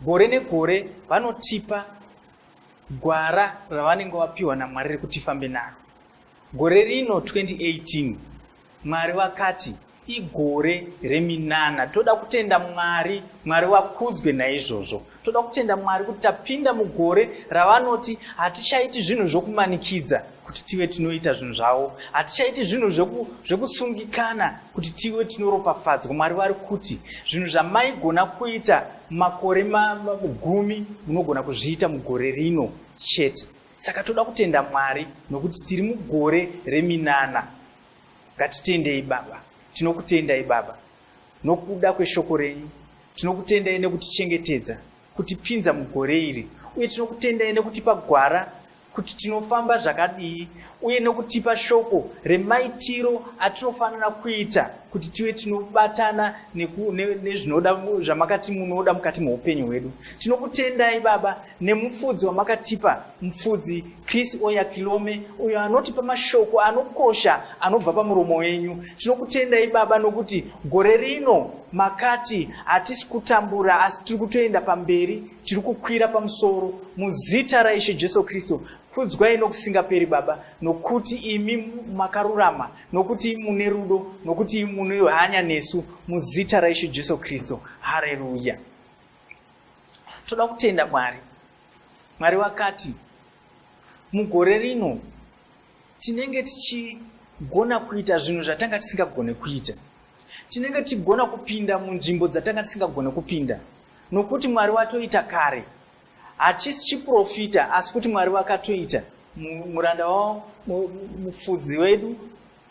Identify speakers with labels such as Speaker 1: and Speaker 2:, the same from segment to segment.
Speaker 1: Gore negore vanotipa gwara ravanenge vapiwa naMwari rekuti fambe naro. Gore rino 2018 Mwari vakati igore reminana. Toda kutenda Mwari, Mwari vakudzwe naizvozvo. Toda kutenda Mwari kuti tapinda mugore ravanoti hatichaiti zvinhu zvokumanikidza. kuti tive tinoita zvinhu zvavo hatichaiti zvinhu zvekusungikana kuti tive tinoropafadzwa mwari vari kuti zvinhu zvamaigona kuita makore gumi munogona kuzviita mugore rino chete saka toda kutenda mwari nokuti tiri mugore reminana ngatitendei baba tinokutendai baba nokuda kweshoko renyu tinokutendai nekutichengetedza kutipinza mugore iri uye tinokutendai nekutipa gwara kuti tinofamba zvakadii uye nokutipa shoko remaitiro atinofanira kuita kuti tive tinobatana nezvinoda zvamakati munoda mukati meupenyu hwedu tinokutendai baba nemufudzi wamakatipa mufudzi Chris Oyakilome, uyo anotipa mashoko anokosha anobva pamuromo wenyu. Tinokutendai Baba nokuti gore rino makati hatisi kutambura asi tiri kutoenda pamberi, tiri kukwira pamusoro muzita raIshe Jesu Kristu. Kudzwai nokusingaperi Baba, nokuti imi makarurama, nokuti imi mune rudo, nokuti imi mune hanya nesu muzita raIshe Jesu Kristu. Hareruya. Toda kutenda Mwari Mwari vakati, Mugore rino tinenge tichigona kuita zvinhu zvatanga tisingagone kuita. Tinenge tichigona kupinda munzvimbo dzatanga tisingagone kupinda, nokuti Mwari watoita kare. Hachisi chiprofita, asi kuti Mwari vakatoita. Muranda wavo, mufudzi wedu,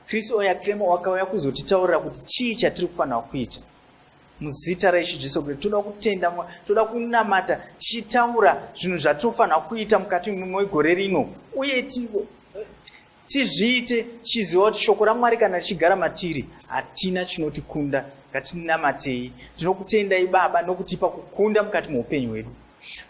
Speaker 1: Chris Oyakhilema wakauya kuzotitaurira kuti chii chatiri kufanira kuita. muzita raishe jesu kristu toda kutenda mwa toda kunamata tichitaura zvinhu zvatinofanira kuita mukati mwegore rino uye tizviite tichiziva kuti shoko ramwari kana richigara matiri hatina chinotikunda ngatinamatei tinokutendai baba nokutipa kukunda mukati mweupenyu hwedu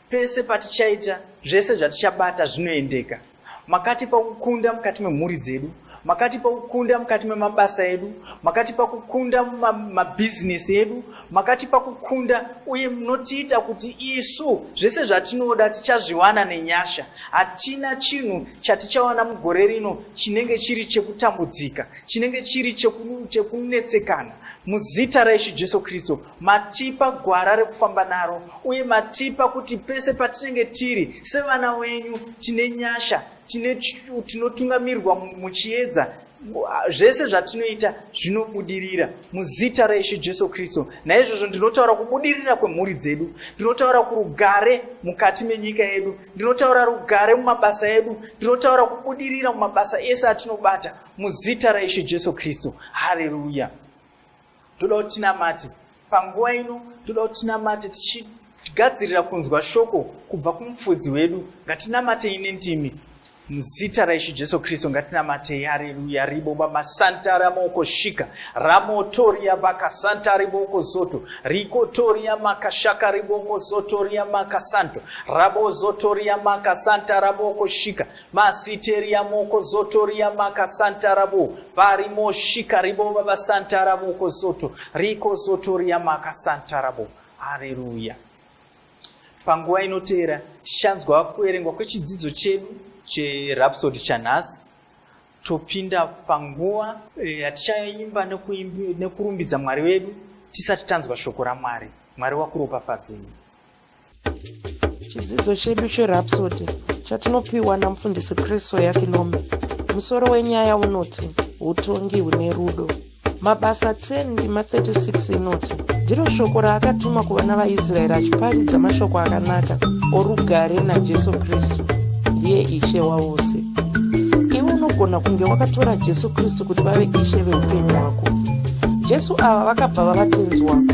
Speaker 1: pese patichaita zvese zvatichabata zvinoendeka makatipa kukunda mukati memhuri dzedu makatipa kukunda mukati memabasa edu makatipa kukunda mumabhizinesi ma edu makatipa kukunda uye munotiita kuti isu zvese zvatinoda tichazviwana nenyasha hatina chinhu chatichawana mugore rino chinenge chiri chekutambudzika chinenge chiri chekunetsekana muzita raishu jesu kristu matipa gwara rekufamba naro uye matipa kuti pese patinenge tiri sevana wenyu tine nyasha tinotungamirwa muchiedza zvese zvatinoita zvinobudirira muzita raishe jesu kristu naizvozvo ndinotaura kubudirira kwemhuri dzedu ndinotaura kurugare mukati menyika yedu ndinotaura rugare mumabasa edu ndinotaura kubudirira mumabasa ese atinobata muzita raishe jesu kristu hareruya toda kuti tinamate panguva ino toda kuti tinamate tichigadzirira kunzwa shoko kubva kumufudzi wedu ngatinamatei nendimi muzita raishe jesu kristu ngatinamatei hareruya ribo baba santa ramoko shika ramotoria baka santa riboko zoto rikotoria maka shaka riboko zotoria maka santo rabo zotoria maka santa raboko shika Masiteria moko zoto ria maka santara bo bari moshi karibo baba santara moko zoto riko zoto ria maka santara bo haleluya panguva inoteera tichanzwa kuverengwa kwechidzidzo chedu cherapsodi chanhasi topinda panguva eh, yatichaimba nekurumbidza mwari wedu tisati tanzwa shoko ramwari mwari wakuropafadzei chidzidzo
Speaker 2: chedu cherapsody chatinopiwa namufundisi kristo yakinome musoro wenyaya unoti utongi hune rudo mabasa 10 ndima 36 inoti ndiro shoko raakatuma kuvana vaisraeri achiparidza mashoko akanaka orugare najesu kristu ndiye ishe wavose iwe unogona kunge wakatora jesu kristu kuti vave ishe veupenyu hwako jesu ava vakabva vavatenzi wako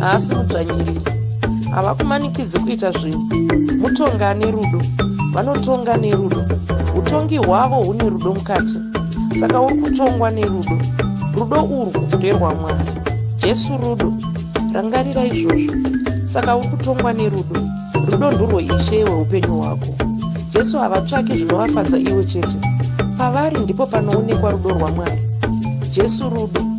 Speaker 2: haasi mudzvanyiriri havakumanikidzi kuita zvinhu mutonga ane rudo vanotonga nerudo utongi hwavo hune rudo mukati saka uri kutongwa nerudo rudo urwu nderwamwari jesu rudo rangarira izvozvo saka uri kutongwa nerudo rudo ndurwo ishe hweupenyu hwako jesu havatsvaki zvinovafadza iwe chete pavari ndipo panoonekwa rudo rwamwari jesu rudo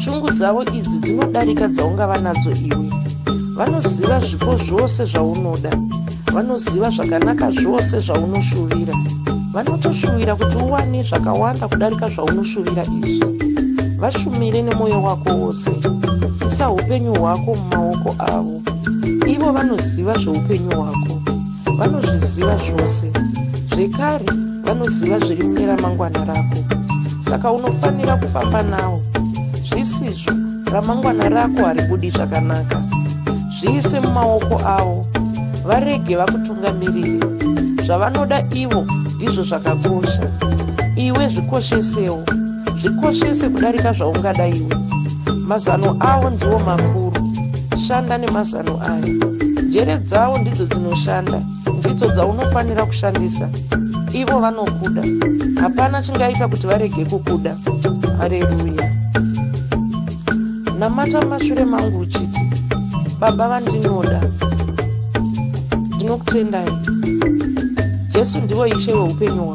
Speaker 2: shungu dzavo idzi dzinodarika dzaungava nadzo iwe vanoziva zvipo zvose zvaunoda vanoziva zvakanaka zvose zvaunoshuvira vanotoshuvira kuti uwane zvakawanda kudarika zvaunoshuvira izvi vashumire nemwoyo wako wose isa upenyu hwako mumaoko avo ivo vanoziva zveupenyu hwako vanozviziva zvose zvekare vanoziva zviri mune ramangwana rako saka unofanira kufamba nawo zvisizvo ramangwana rako haribudi zvakanaka zviise mumaoko avo varege vakutungamirire zvavanoda ivo ndizvo zvakakosha iwe zvikoshesewo zvikoshese kudarika zvaungada iwe mazano avo ndiwo makuru shanda nemazano aya njere dzavo ndidzo dzinoshanda ndidzo dzaunofanira kushandisa ivo vanokuda hapana chingaita kuti varege kukuda hareruya namata mumashure mangu uchiti baba vandinoda ndinokutendai jesu ndivo ishe weupenyu hwangu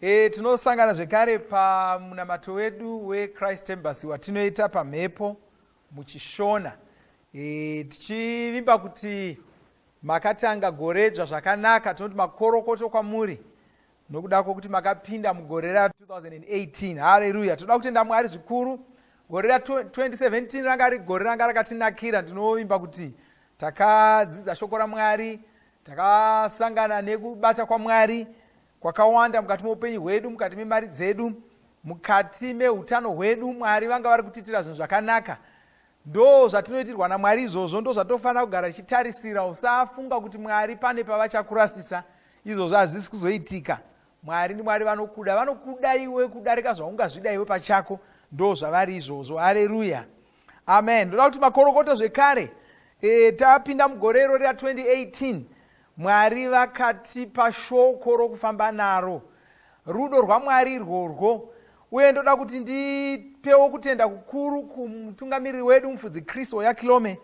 Speaker 3: E, tinosangana zvekare pamunamato wedu wechrist embassy watinoita pamhepo muchishona e, tichivimba kuti makatanga goredzva zvakanaka tinoti makorokoto kwamuri nokuda kwokuti makapinda mugore ra 2018 hareruya tinoda kutenda mwari zvikuru gore ra 2017 ranga ri gore ranga rakatinakira ndinovimba kuti takadzidza shoko ramwari takasangana nekubata kwamwari kwakawanda mukati meupenyu hwedu mukati memari dzedu mukati meutano hwedu mwari vanga vari kutiitira zvinhu zvakanaka ndo zvatinoitirwa namwari izvozvo ndo zvatinofanira kugara tichitarisira usafunga kuti mwari pane pavachakurasisa izvozvo hazvisi kuzoitika mwari ndimwari vanokuda vanokuda iwe kudarika zvaungazvida iwe pachako ndo zvavari izvozvo hareruya amen ndoda kuti makorokoto zvekare e, tapinda mugore irori ra 2018 mwari vakatipa shoko rokufamba naro rudo rwamwari irworwo uye ndoda kuti ndipewo kutenda kukuru kumutungamiriri wedu mufudzi chris oyakilome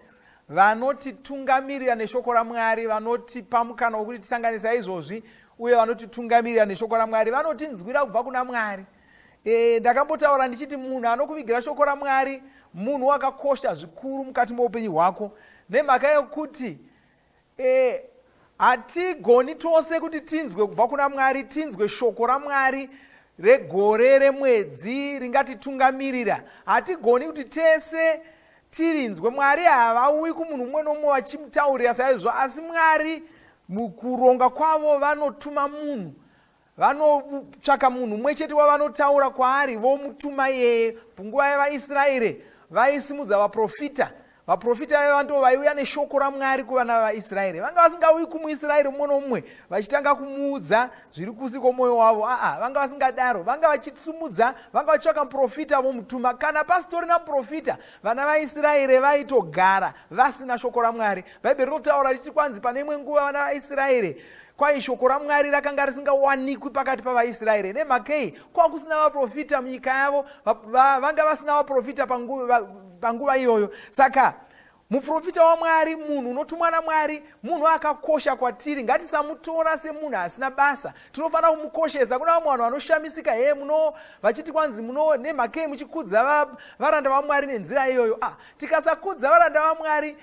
Speaker 3: vanotitungamirira neshoko ramwari vanotipa mukana wokuti tisanganisa izvozvi uye vanotitungamirira neshoko ramwari vanotinzwira kubva kuna mwari e, ndakambotaura ndichiti munhu anokuvigira shoko ramwari munhu wakakosha zvikuru mukati moupenyu hwako nemhaka yekuti e, hatigoni tose kuti tinzwe kubva kuna mwari tinzwe shoko ramwari regore remwedzi ringatitungamirira hatigoni kuti tese tirinzwe mwari havauyi kumunhu umwe nomwe vachimutaurira saizvo asi mwari mukuronga kwavo vanotuma munhu vanotsvaka munhu umwe chete wavanotaura kwaari vomutuma iyeye punguva yevaisraeri vaisimudza vaprofita vaprofita vaiva ndo vaiuya neshoko ramwari kuvana vevaisraeri vanga vasingauyi kumuisraeri mumwe nomumwe vachitanga kumuudza zviri kusi kwomwoyo wavo aa vanga vasingadaro vanga vachisumudza vanga vachitsvaka muprofita vomutuma kana pasitorina muprofita vana vaisraeri vaitogara vasina shoko ramwari bhaibheri rinotaura richiti kwanzi pane imwe nguva vana vaisraeri kwai shoko ramwari rakanga risingawanikwi pakati pavaisraeri nemhakei kwava kusina vaprofita munyika yavo vanga vasina vaprofita panguva iyoyo saka muprofita wamwari munhu unotumwa namwari munhu akakosha kwatiri ngatisamutora semunhu asina basa tinofanira kumukoshesa kuna vamwe vanhu vanoshamisika hee muno vachiti kwanzi muno nemhakei muchikudza varanda vamwari nenzira iyoyo ah Tikasakudza varanda vaMwari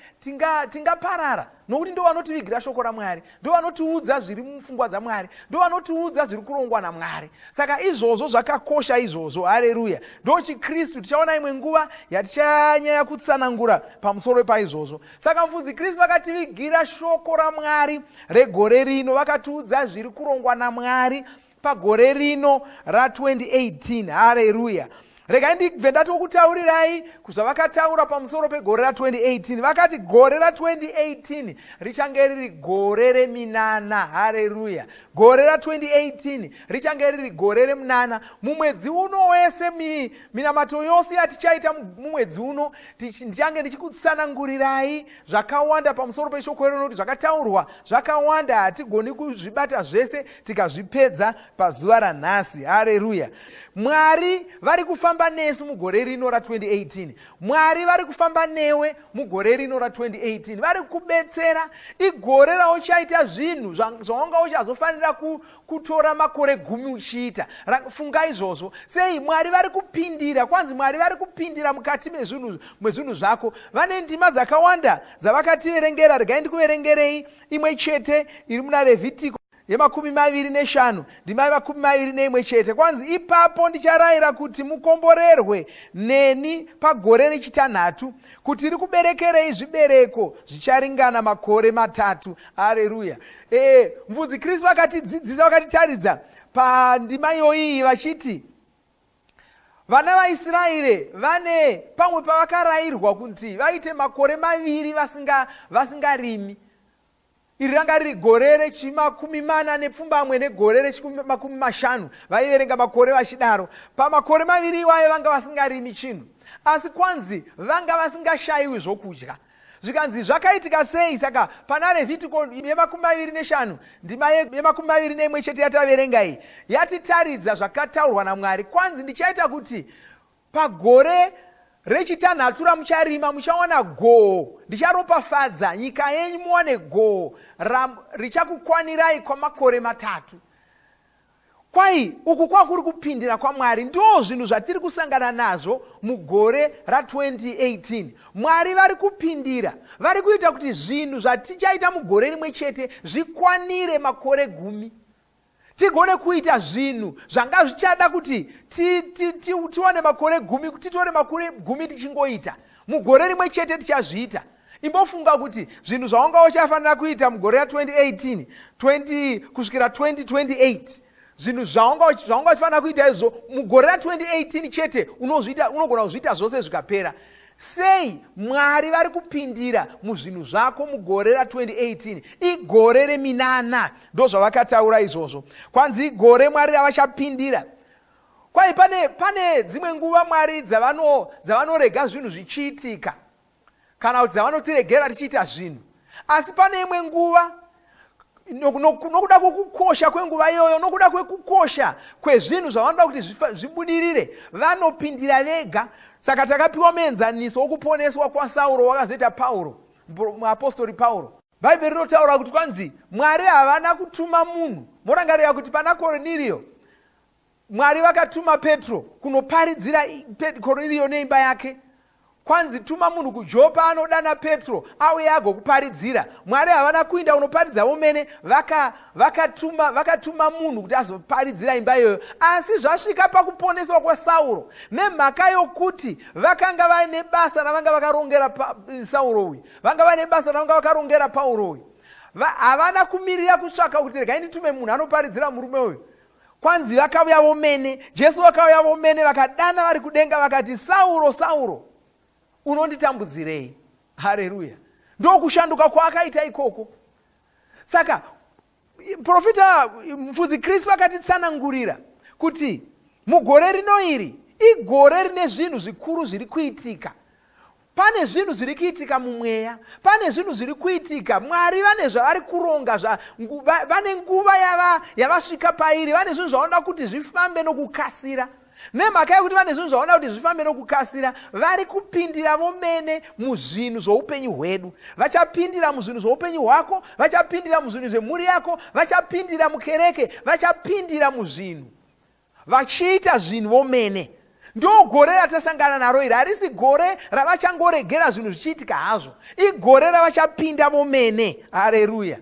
Speaker 3: tingaparara tinga nokuti ndo vanotivigira shoko raMwari, ndo vanotiudza zviri mupfungwa dzaMwari, ndo vanotiudza zviri kurongwa naMwari. Saka izvozvo zvakakosha izvozvo, hareruya. Ndo chiKristu, tichaona imwe nguva yatichanyaya kutsanangura pamusoro paizvozvo. Saka mufudzi Kristu vakativigira shoko raMwari regore rino, vakatiudza zviri kurongwa naMwari, pagore rino ra 2018 hareruya regai ndibve ndatokutaurirai zvavakataura pamusoro pegore ra 2018 vakati gore ra 2018 richange riri gore reminana hareruya gore ra 2018 richange riri gore remunana mumwedzi uno wese mi, minamato yose yatichaita mumwedzi uno ndichange ndichikutsanangurirai zvakawanda pamusoro peshoko rino nokuti zvakataurwa zvakawanda hatigoni kuzvibata zvese tikazvipedza pazuva ranhasi hareruya mwari vari kufamba nesu mugore rino ra2018 mwari vari kufamba newe mugore rino ra2018 vari kubetsera igore rauchaita zvinhu zvaunga uchazofanira kutora makore gumi uchiita funga izvozvo sei mwari vari kupindira kwanzi mwari vari kupindira mukati mezvinhu zvako vane ndima dzakawanda dzavakativerengera regai ndikuverengerei Imwe chete iri muna Revhitiko yemakumi maviri neshanu ndima yemakumi maviri neimwe chete kwanzi ipapo ndicharayira kuti mukomborerwe neni pagore rechitanhatu kuti rikuberekerei zvibereko zvicharingana makore matatu areruya e, eh, mvudzi kristu vakatidzidzisa vakatitaridza pandima iyoiyi vachiti vana vaisraeri vane pamwe pavakarayirwa kuti vaite makore maviri vasingarimi vasinga iri ranga riri gore rechimakumi mana nepfumbamwe negore rechimakumi mashanu vaiverenga makore vachidaro pamakore maviri iwayo vanga vasingarimi chinhu asi kwanzi vanga vasingashayiwi zvokudya Zvikanzi, Zvakaitika sei? Saka pana Revhitiko yemakumi maviri neshanu, ndima yemakumi maviri neimwe chete yataverenga iyi, yatitaridza zvakataurwa naMwari. Kwanzi, Ndichaita kuti pagore rechitanhatu ramucharima muchawana goho ndicharopafadza nyika yenyu muwane goho richakukwanirai kwamakore matatu Kwai uku kwakuri kupindira kwaMwari ndoo zvinhu zvatiri kusangana nazvo mugore ra 2018. Mwari vari kupindira, vari kuita kuti zvinhu zvatichaita mugore rimwe chete zvikwanire makore gumi. Tigone kuita zvinhu zvanga zvichada kuti tiwane makore gumi, titore makore gumi tichingoita. Mugore rimwe chete tichazviita. imbofunga kuti zvinhu zvaunga uchafanira kuita mugore ra 2018 20 kusvikira 2028 zvinhu zvaunga uchifanira kuita izvo mugore ra 2018 chete unozviita unogona kuzviita zvose zvikapera sei mwari vari kupindira muzvinhu zvako mugore ra 2018 igore reminana ndo zvavakataura izvozvo kwanzi igore mwari ravachapindira kwai pane pane dzimwe nguva mwari dzavanorega dzavano zvinhu zvichiitika kana kuti dzavanotiregera tichiita zvinhu asi pane imwe nguva nokuda kwekukosha kwenguva iyoyo nokuda kwekukosha kwezvinhu zvavanoda kuti zvibudirire vanopindira vega saka takapiwa muenzaniso wokuponeswa kwasauro wakazoita pauro muapostori pauro bhaibheri rinotaura kuti kwanzi mwari havana kutuma munhu morangarira kuti pana korniriyo Mwari vakatuma Petro kunoparidzira Korniriyo neimba yake. Kwanzi tuma munhu kuJopa anodana Petro auye agokuparidzira. Mwari havana kuinda kunoparidza vomene, vakatuma vaka vakatuma munhu kuti azoparidzira imba iyoyo. Asi zvasvika pakuponeswa kwaSauro nemhaka yokuti vakanga vaine basa ravanga vakarongera Sauro uyu, vanga vaine basa ravanga vakarongera Pauro uyu. Havana kumirira kutsvaka kuti regai nditume munhu anoparidzira murume uyu kwanzi vakauya vomene jesu vakauya vomene vakadana vari kudenga vakati sauro sauro unonditambudzirei hareruya ndokushanduka kwaakaita ikoko saka profita mfudzi kristu vakatitsanangurira kuti mugore rino iri igore rine zvinhu zvikuru zviri kuitika Pane zvinhu zviri kuitika mumweya, pane zvinhu zviri kuitika. Mwari vane zvavari kuronga, zva, ngu, va, vane nguva yava, yavasvika pairi, vane zvinhu zvavanoda kuti zvifambe nokukasira. Nemhaka yekuti vane zvinhu zvavanoda kuti zvifambe nokukasira, vari kupindira vomene muzvinhu zvoupenyu hwedu. Vachapindira muzvinhu zvoupenyu hwako, vachapindira muzvinhu zvemhuri yako, vachapindira mukereke, vachapindira muzvinhu vachiita zvinhu vomene ndogore ratasangana naro iri harisi gore ravachangoregera zvinhu zvichiitika hazvo igore ravachapinda vomene hareruya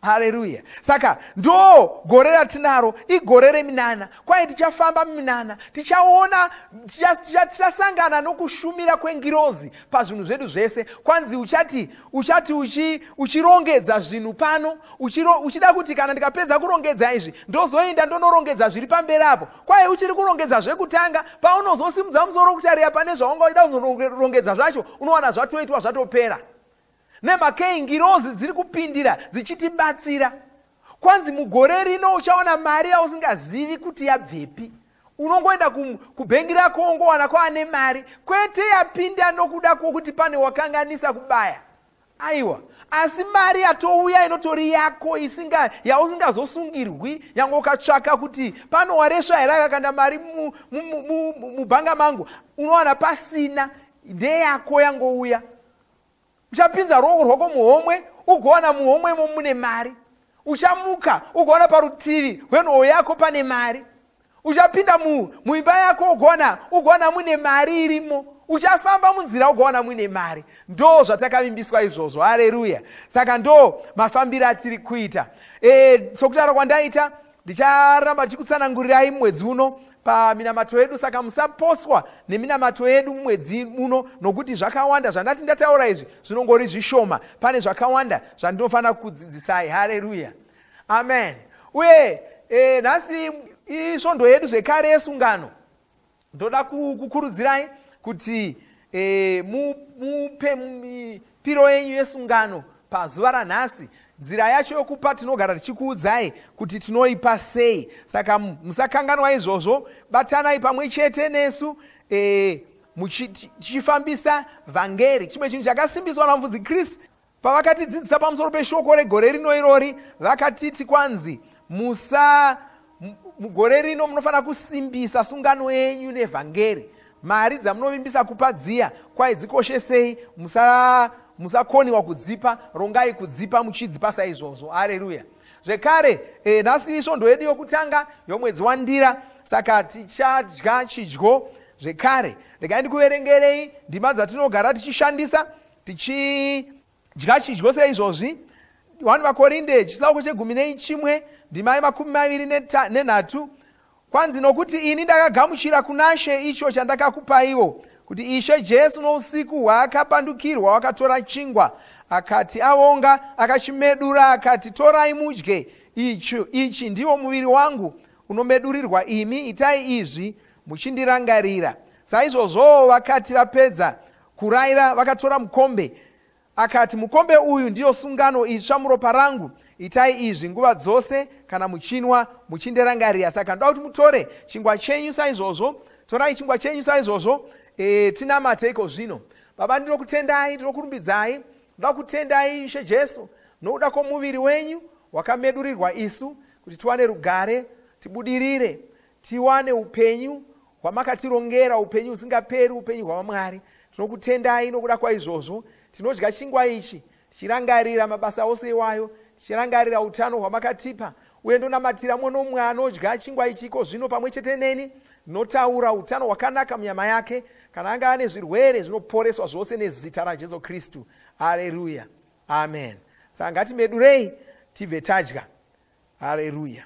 Speaker 3: hareruya saka ndo gore ratinaro igore reminana kwaye tichafamba muminana tichaona tichasangana nokushumira kwengirozi pazvinhu zvedu zvese kwanzi uchati uchati uchi uchirongedza zvinhu pano uchiro, uchida kuti kana ndikapedza kurongedza izvi ndozoenda ndonorongedza zviri pamberi apo kwaye uchiri kurongedza zvekutanga paunozosimudza musoro kutaria pane zvaunga uchida kunorongedza zvacho unowana zvatoitwa zvatopera nemakei ngirozi dziri kupindira dzichitibatsira kwanzi mugore rino uchaona mari yausingazivi kuti yabvepi unongoenda kubhengi rako wongowana kwaane mari kwete yapinda nokuda kwokuti pane wakanganisa kubaya aiwa asi mari yatouya inotori yako isinga yausingazosungirwi nyange ukatsvaka kuti pano waresva here akakanda mari mubhanga mangu unowana pasina ndeyako yangouya uchapinza ruoko rwako muhomwe ugowana muhomwe imo mune mari uchamuka ugowana parutivi rwenhoo yako pane mari uchapinda muimba yako ugowana ugowana mune mari irimo uchafamba munzira ugowana muine mari ndo zvatakavimbiswa izvozvo hareruya saka ndo mafambiro atiri kuita e, sokutaura kwandaita Ndicharamba ndichikutsanangurirai mwedzi uno paminamato yedu saka musaposwa neminamato yedu mumwedzi muno nokuti zvakawanda zvandati ndataura izvi zvinongori zvishoma pane zvakawanda zvandinofanira kukudzidzisai hareruya amen uye e, nhasi isvondo yedu zvekare yesungano ndoda kukurudzirai kuti e, mupe mipiro yenyu yesungano pazuva ranhasi nzira yacho yokupa tinogara tichikuudzai kuti tinoipa sei saka musakanganwa izvozvo batanai pamwe chete nesu e, tichifambisa vhangeri chimwe chinhu chakasimbiswa namufudzi chris Pavakatidzidzisa pamusoro peshoko regore rino irori, vakatiti kwanzi, Musa, mugore rino munofanira kusimbisa sungano yenyu nevhangeri. Mari dzamunovimbisa kupa dziya, kwai dzikoshesei, musa musakoniwa kudzipa rongai kudzipa muchidzipa saizvozvo areruya zvekare e, nhasi isvondo yedu yokutanga yomwedzi wandira saka tichadya chidyo zvekare regai ndikuverengerei ndima dzatinogara tichishandisa Tichidya chidyo seizvozvi, 1 Vakorinde chitsauko chegumi neichimwe ndima yemakumi maviri nenhatu, kwanzi, Nokuti ini ndakagamuchira kunaShe icho chandakakupaiwo, kuti Ishe Jesu nousiku hwaakapandukirwa wakatora chingwa, akati avonga, akachimedura, akati, Torai mudye, ichi, ichi ndiwo muviri wangu unomedurirwa imi, itai izvi muchindirangarira. Saizvozvowo vakati vapedza Kuraira vakatora mukombe. Akati, Mukombe uyu ndiyo sungano itsva muropa rangu. Itai izvi nguva dzose kana muchinwa, muchindirangarira. Saka ndoda kuti mutore chingwa chenyu saizvozvo. Torai chingwa chenyu saizvozvo. E, tinamateiko zvino? Baba, ndinokutendai, ndinokurumbidzai. Ndoda kutendai, Ishe Jesu, nokuda kwomuviri wenyu wakamedurirwa isu, kuti tiwane rugare, tibudirire. tiwane upenyu hwamakatirongera upenyu husingaperi upenyu hwavamwari tinokutendai nokuda kwaizvozvo tinodya chingwa ichi tichirangarira mabasa ose iwayo tichirangarira utano hwamakatipa uye ndonamatira mumwe nomumwe anodya chingwa ichiko zvino pamwe chete neni ndinotaura utano hwakanaka munyama yake kana anga ane zvirwere zvinoporeswa zvose nezita rajesu kristu aleruya amen saka ngatimedurei tibve tadya aleruya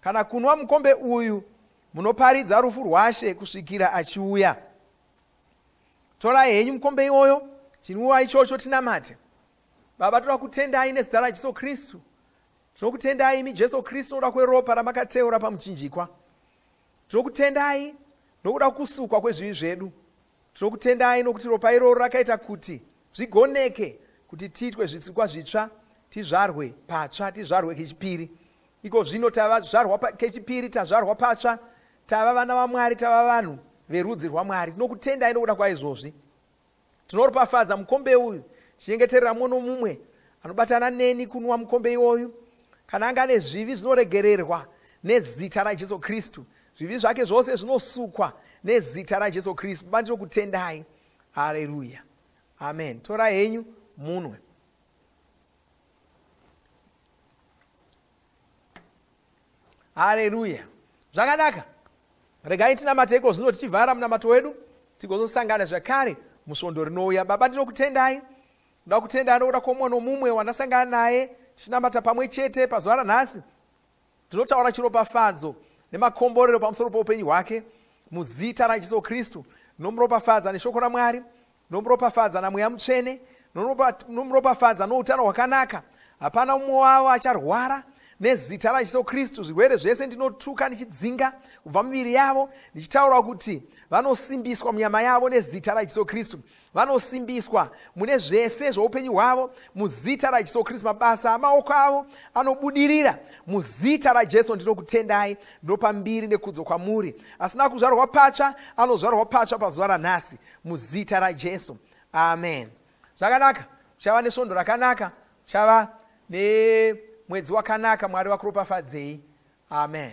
Speaker 3: Kana kunwa mukombe uyu munoparidza rufu rwaShe kusvikira achiuya. Torai henyu mukombe iwoyo, chinwiwa ichocho tinamate. Baba, toda kutendai nezita raJesu Kristu. Tinokutendai imi Jesu Kristu nokuda kweropa ramakateura pamuchinjikwa. Tinokutendai nokuda kusukwa kwezvivi zvedu. Tinokutendai nokuti ropa iroro rakaita kuti zvigoneke kuti tiitwe zvisikwa zvitsva, tizvarwe patsva, tizvarwe kechipiri. Iko zvino tava zvizvarwa pa, kechipiri, tazvarwa patsva, tava vana vaMwari, tava vanhu verudzi rwaMwari. Tinokutendai nokuda kwaizvozvi. Tinoropafadza mukombe uyu, chinyengeterera mumwe nomumwe anobatana neni kunwa mukombe iwoyu. Kana anga ane zvivi zvinoregererwa nezita raJesu Kristu, zvivi zvake zvose zvinosukwa nezita raJesu Kristu. Baba, ndinokutendai. Haleluya. Amen. Torai henyu munwe. haleluya zvakanaka regai tinamate iko zvino tichivhara munamato wedu tigozosangana zvakare musvondo rinouya baba ndinokutendai ndoda kutenda anoda kwomumwe nomumwe wandasangana naye chinamata pamwe chete pazuva ranhasi Ndinotaura chiropafadzo nemakomborero pamusoro poupenyu hwake muzita raJesu Kristu. Ndinomuropafadza neshoko raMwari, ndinomuropafadza naMweya Mutsvene, ndinomuropafadza noutano hwakanaka. Hapana umwe wavo acharwara nezita raJesu Kristu. Zvirwere zvese ndinotuka ndichidzinga kubva miviri yavo, ndichitaura kuti vanosimbiswa munyama yavo nezita raJesu Kristu. Vanosimbiswa mune zvese zvoupenyu hwavo muzita raJesu Kristu. Mabasa amaoko avo anobudirira muzita raJesu. Ndinokutendai, ndinopa mbiri nekudzo kwamuri. Asina kuzvarwa patsva anozvarwa patsva pazuva ranhasi muzita raJesu. Amen. Zvakanaka, uchava nesvondo rakanaka, uchava nemwedzi wakanaka. Mwari vakuropafadzei. Amen.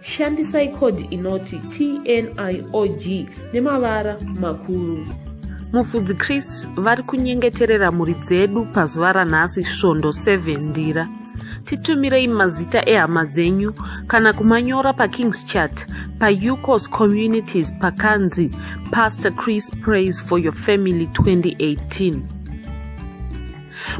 Speaker 4: Shandisai code inoti TNIOG nemavara makuru. Mufudzi Chris vari kunyengeterera mhuri dzedu pazuva ranhasi svondo 7 ndira. Titumirei mazita ehama dzenyu kana kumanyora paKing's Chat paUCOS Communities pakanzi Pastor Chris Praise for Your Family 2018.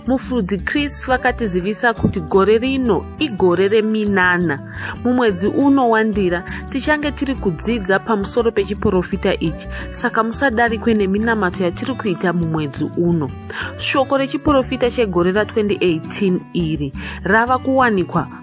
Speaker 4: mufudzi chris vakatizivisa kuti gore rino igore reminana mumwedzi uno wandira tichange tiri kudzidza pamusoro pechiprofita ichi saka musadarikwe neminamato yatiri kuita mumwedzi uno shoko rechiprofita chegore ra 2018 iri rava kuwanikwa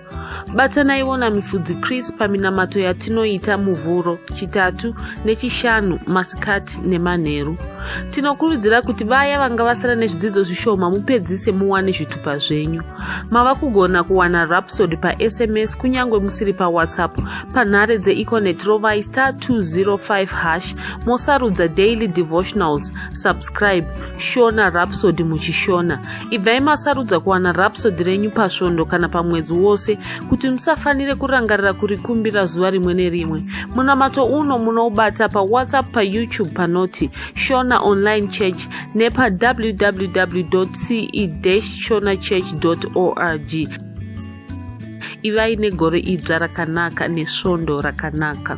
Speaker 4: batanaiwo namifudzi chris paminamato yatinoita muvhuro chitatu nechishanu masikati nemanheru tinokurudzira kuti vaya vanga vasara nezvidzidzo zvishoma mupedzise muwane zvitupa zvenyu mava kugona kuwana rapsod pasms kunyange musiri pawhatsapp panhare dzeeconet rovai star 205 hash mosarudza daily devotionals subscribe shona rapsod muchishona Ibvai masarudza kuwana rapsodi renyu pasvondo kana pamwedzi wose kuti musafanire kurangarira kurikumbira zuva rimwe nerimwe. Munamato uno munoubata paWhatsApp, paYouTube panoti Shona Online Church nepaWWW.ce-shonachurch.org. Ivai negore idzva rakanaka nesvondo rakanaka.